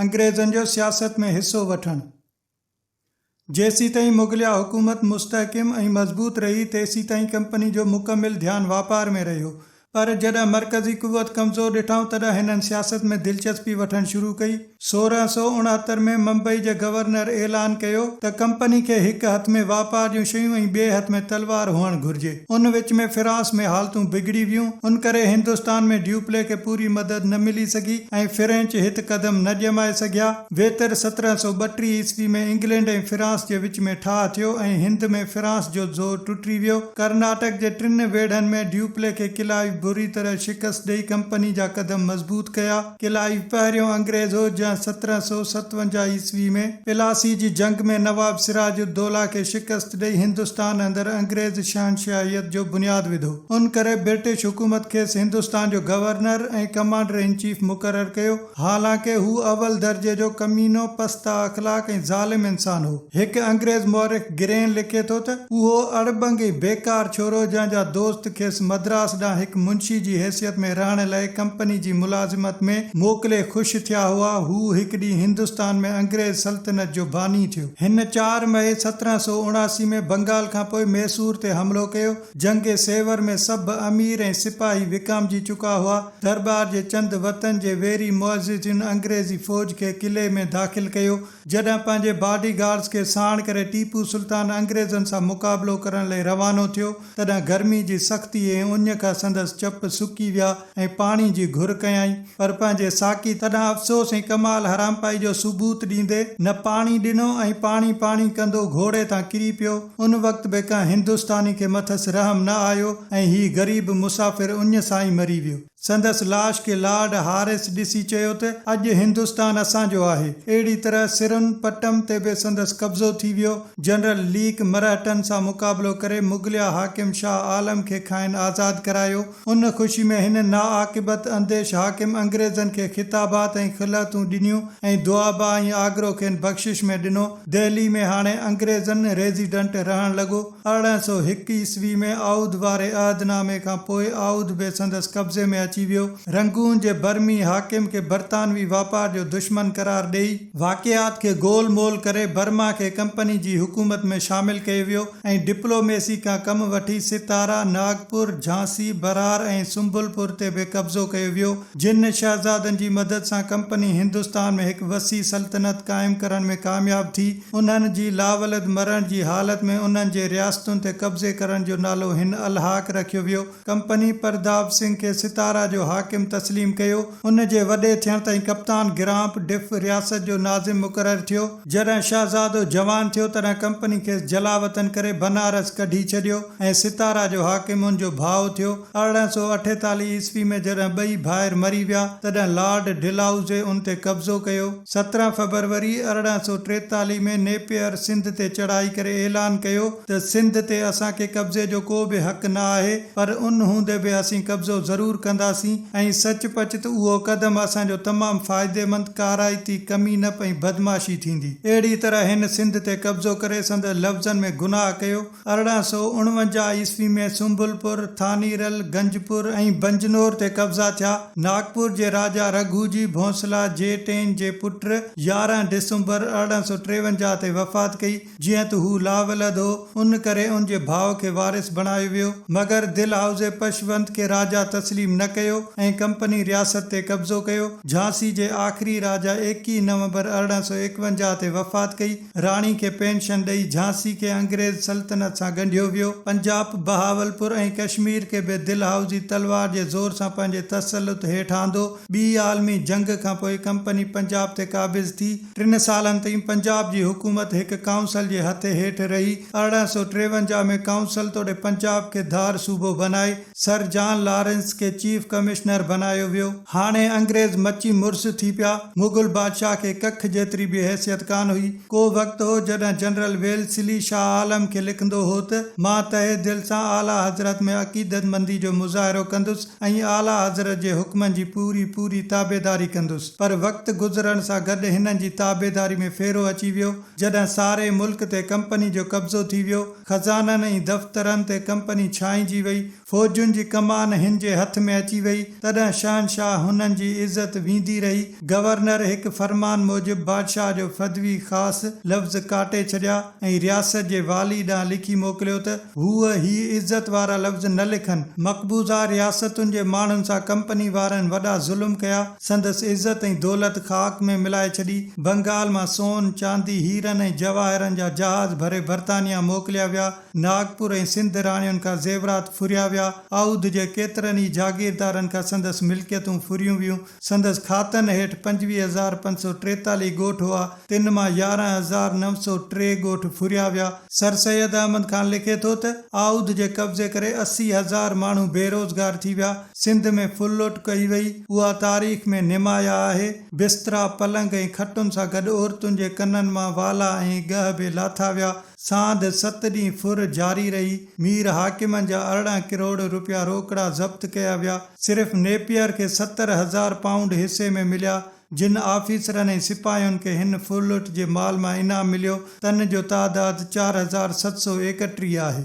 انگريزن جو سياست ۾ حصو وٺڻ. جيسيتائين مغليه حڪومت مستحڪم ۽ مضبوط رهي، تيسيتائين ڪمپني جو مڪمل ڌيان واپار ۾ رهيو، پر جڏهن مرڪزي قوت ڪمزور ڏٺائون، تڏهن هنن سياست ۾ دلچسپي وٺڻ شروع ڪئي. سورهن سؤ اڻهتر ۾ ممبئي جي گورنر اعلان ڪيو ته ڪمپني کي هڪ هٿ ۾ واپار جون شيون ۽ ٻئي هٿ ۾ تلوار هئڻ گهرجي. ان وچ ۾ فرانس ۾ حالتون بگڙي ويون، ان ڪري هندستان ۾ ڊيوپلي کي پوري مدد نه ملي سگهي ۽ فرينچ هت قدم نه ڄمائي سگهيا. ويتر سترهن سؤ ٻٽيهه عيسوي ۾ انگلينڊ ۽ فرانس جي وچ ۾ ٺاهه ٿيو ۽ هند ۾ فرانس جو زور ٽٽي ويو. ڪرناٽڪ جي ٽن ويڙهن ۾ ڊيوپلي کي ڪلائيو بري طرح شڪست ڏئي ڪمپني جا قدم مضبوط ڪيا. ڪلائيو پهريون انگريز هو جنهن سترهن سؤ ستونجاهه عيسوي ۾ پلاسي جي جنگ ۾ نواب سراج الدوله کي شڪست ڏئي هندستان اندر انگريز شهنشاهيت جو بنياد وڌو. ان ڪري برٽش حڪومت کيس هندستان جو گورنر ۽ ڪمانڊر ان چيف مقرر ڪيو. حالانڪه هو اول درجي جو ڪمينو، پسته اخلاق ۽ ظالم انسان هو. هڪ انگريز مورخ، گرين لکي ٿو ته، اهو اڙٻنگي بيڪار ڇورو جنهن جا دوست کيس مدراس ڏانهن هڪ منشي جي حيثيت ۾ رهڻ لئه ڪمپني جي ملازمت ۾ موڪلي خوش ٿيا هئا، هو هڪ ڏينهن هندستان ۾ انگريز سلطنت جو باني ٿيو. هن چار مئي سترهن سؤ اڻاسي ۾ بنگال کان پوء ميسور تي حملو ڪيو. جنگ سيور ۾ سڀ امير ۽ سپاهي وڪامجي چڪا هئا. درٻار جي چند وتن جي ويري معززين انگريزي فوج کي قلعي ۾ داخل ڪيو. جڏهن پنهنجي باڊي گارڊز کي ساڻ ڪري ٽيپو سلطان انگريزن سان مقابلو ڪرڻ لئي روانو ٿيو، تڏهن گرمي جي سختي ۽ اڃ کان سندس چپ سڪي ويا ۽ پاڻي جي گهر ڪيائين، پر پنهنجي ساقي تڏهن افسوس ۽ ڪمال حرامپائي جو ثبوت ڏيندي نه پاڻي ڏنو ۽ پاڻي پاڻي ڪندو گهوڙي تان ڪري پيو، ان وقت به ڪنهن هندستاني کي مٿس رحم نه آيو ۽ هي غريب مسافر اڃ سان ئي مري ويو. سندس لاش کي لارڊ هارس ڏسي چيو ته اڄ هندستان اسان جو آهي. اهڙي طرح سرن پٽم تي به سندس قبضو ٿي ويو. جنرل ليڪ مرهٽن سان مقابلو ڪري مغليه حاڪم شاهه عالم کي کانئن آزاد ڪرايو. ان خوشي ۾ هن ناعاقبت انديش حاڪم انگريزن کي خطابات ۽ خلعتون ڏنيون ۽ دوآبه ۽ آگرو کين بخشش ۾ ڏنو. دهلي ۾ هاڻي انگريزن ريزيڊنٽ رهڻ لڳو. ارڙهن سؤ هڪ عيسوي ۾ اعود واري عهد نامي کان پوء اعود به سندس قبضي ۾ اچي ويو. رنگون جي برمي حاڪم کي برطانوي واپار جو دشمن قرار ڏئي، واقعات کي گول مول ڪري برما کي ڪمپني جي حڪومت ۾ شامل ڪيو ويو ۽ ڊپلوميسي کان ڪم وٺي ستارا، ناگپور، جھانسي، برار ۽ سنبل پور تي به قبضو ڪيو ويو، جن شهزادن جي مدد سان ڪمپني هندستان ۾ هڪ وسيع سلطنت قائم ڪرڻ ۾ ڪامياب ٿي. انهن جي لاولد مرڻ جي حالت ۾ انهن جي رياستن تي قبضي ڪرڻ جو نالو هن الحاق رکيو ويو. ڪمپني پرداب سنگهه کي ستارا جو حاڪم تسليم ڪيو. ان جي وڏي ٿيڻ تائين ڪپتان گرامپ ڊف رياست جو ناظم مقرر ٿيو. جڏهن شهزادو جوان ٿيو تڏهن ڪمپني کيس جلاوطن ڪري بنارس ڪڍي ڇڏيو ۽ ستارا جو حاڪم ان جو ڀاء ٿيو. ارڙهن سؤ اٺيتاليهه عيسوي ۾ جڏهن ٻئي ڀائر مري ويا، تڏهن لارڊ ڊلهائوزي ان تي قبضو ڪيو. سترهن فبروري ارڙهن سؤ ٽيتاليهه ۾ نيپئر سنڌ تي چڙهائي ڪري اعلان ڪيو ته سنڌ تي اسان کي قبضي جو ڪو به حق نه آهي، پر ان هوندي به اسين قبضو ضرور ڪنداسين ۽ سچ پچ ته اهو قدم اسان جو تمام فائديمند، ڪارائتي ڪمين اپ ۽ بدمعاشي ٿيندي. اهڙيء طرح هن سنڌ تي قبضو ڪري سندس لفظن ۾ گناهه ڪيو. ارڙهن سؤ اڻونجاهه عيسوي ۾ سنبل پور، ٿاني رل، گنج پور ۽ بنجنور تي قبضا ٿيا. ناگپور جي راجا رگهو جي ڀونسلا جي ٽين جي پٽ يارهن ڊسمبر ارڙهن سؤ ٽيونجاهه تي وفات ڪئي، جيئن ته هو لاولد هو، ان ڪري ان جي ڀاء کي وارث بڻايو ويو، مگر دلهائوزي پشونت کي راجا تسليم نه ڪيو ۽ ڪمپني رياست تي قبضو ڪيو. جھانسي جي آخري راجا ايڪيهه نومبر ارڙهن سؤ ايڪونجاهه تي وفات ڪئي، راڻي کي پينشن ڏئي جھانسي کي انگريز سلطنت سان ڳنڍيو ويو. پنجاپ، بهاولپور ۽ ڪشمير کي به دلهائوزي تلوار جي زور سان پنهنجي تسلط هيٺ آندو. ٻي عالمي جنگ کان پوء ڪمپني پنجاب تي قابض ٿي. ٽن سالن تائين پنجاب جي حڪومت هڪ ڪائونسل جي هٿي هيٺ رهي. ارڙهن سؤ ٽيونجاهه ۾ ڪائونسل توڙي پنجاب کي ڌار صوبو بنائي. سر جان لارنس کي چيف ڪمشنر بنايو ويو. هاڻي انگريز مچي مرس ٿي پيا. مغل بادشاهه کي ڪک جيتري به حيثيت ڪانه هئي. ڪو وقت هو جڏهن جنرل ويلسلي شاهه عالم کي لکندو هو ته، مان تهه دل سان اعليٰ حضرت ۾ عقيدتمندي جو مظاهرو ڪندس ۽ اعليٰ حضرت جي حڪمن جي پوري پوري تابعداري ڪندس. پر وقت گذرڻ سان گڏ هنن جي تابعداري ۾ ڦيرو اچي ويو. جڏهن ساري ملڪ تي ڪمپني جو قبضو ٿي ويو. خزانن ۽ دفترن تي ڪمپني ڇائنجي وئي، فوجن جي ڪمان هن جي هٿ ۾ اچي وئي، تڏهن شهنشاهه هنن جي عزت ويندي رهي. گورنر هڪ فرمان موجب بادشاهه جو فدوي خاص لفظ ڪاٽي ڇڏيا ۽ رياست جي والي ڏانهن لکي موڪليو ته هو هي عزت وارا لفظ نه لکن. مقبوضه رياستن جي ماڻهن سان ڪمپني وارن وڏا ظلم ڪيا. سندس عزت ۽ دولت خاڪ ۾ ملائي ڇڏي. بنگال مان سون، چاندي، هيرن ۽ جواهرن جا جهاز ڀري برطانيا موڪليا ويا. ناگپور ۽ سنڌ راڻين کان زيورات ڦريا ويا. اؤڌ جي ڪيترن ئي جاگيردارن کان سندس ملڪيتون ڦريون ويون. سندس کاتن هيٺ پنجويهه هزار پنج سؤ ٽيتاليهه ڳوٺ هئا، تن مان يارهن هزار نو سؤ ٽي ڳوٺ ڦريا ويا. سر سيد احمد خان لکي ٿو ته، اؤڌ جي قبضي ڪري اسي هزار ماڻهو بيروزگار ٿي ويا. سنڌ ۾ ڦل لوٽ ڪئي وئي، اها تاريخ ۾ نمايا آهي. بسترا، پلنگ ۽ کٽن سان گڏ عورتن جي ڪنن مان والا ۽ ڳهه به لاٿا ويا. ساند ست ڏينهن ڦر جاري رهي. مير حاڪمن جا ارڙهن ڪروڙ روپيا روڪڙا ضبط ڪيا ويا. صرف نيپيئر کي ستر هزار پائونڊ حصي ۾ مليا. جن آفيسرن ۽ سپاهين کي هن ڦر لوٽ جي مال مان انعام مليو، تن جو تعداد چار هزار ست سؤ ايڪٽيهه آهي.